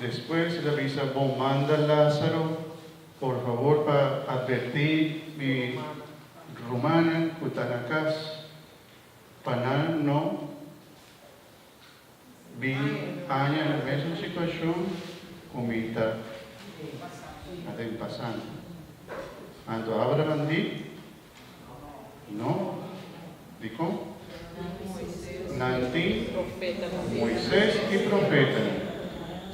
Despues el a bisa, Bo manda Lázaro, por favor, pa atvertí mi rumannan ku ta na kas, pa nan no bin haña na mesun situashon ku mi ta aden pasando. Anto Abraham di. No. Dikon? Nan tin Moises i profetanan.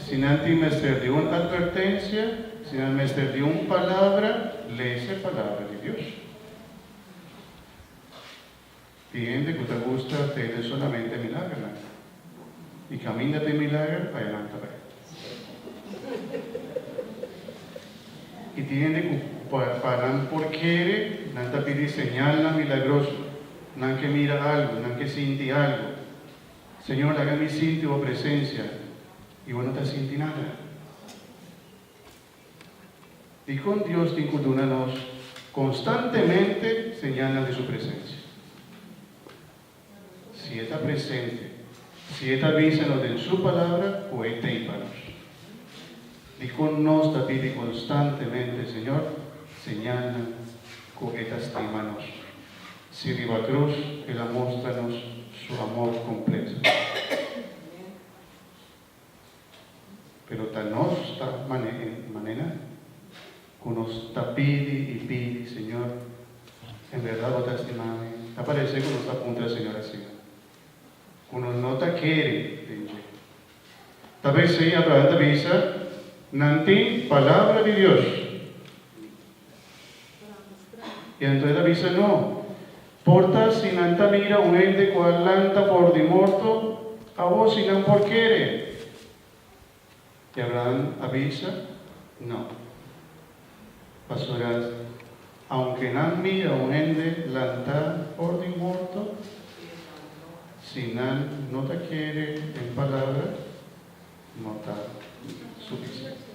Si nan tin mester di un atvertensia, si nan mester di un palabra, lese Palabra di Dios. Tin hende cu ta gusta tene solamente milagernan. Y caminda den milager pa e nan ta bay. Y tin hende cu pa nan por kere nan ta pidi señalnan milagroso, nan ke mira algo, nan ke sinti algo. Señor laga mi sinti bo presencia y bo no ta sinti nada. Dikon Dios tin ku duna nos konstantemente señalnan di su presensia? Si e ta presente, si e ta bisa nos den su Palabra ku e t'ei pa nos. Dikon nos ta bibi konstantemente Señor señalnan ku e ta stima nos, si riba krus el a mustra nos su amor kompleto? Pero ta nos ta manera cu nos ta pidi y pidi, Señor, en verdad Bo ta estima mi? Ta parece cu nos ta puntra e Señor asina, cu nos no ta kere den dje. Ta p'esey Abraham ta bisa, Nan tin Palabra di Dios. I anto e ta bisa, No. Por ta si nan ta mira un hende ku a lanta for di morto, awor si nan por kere? I Abrahan a bisa, No. Pasobra aunke nan mira un hende lanta for di morto, si nan no ta kere den palabra, no ta sufisiente.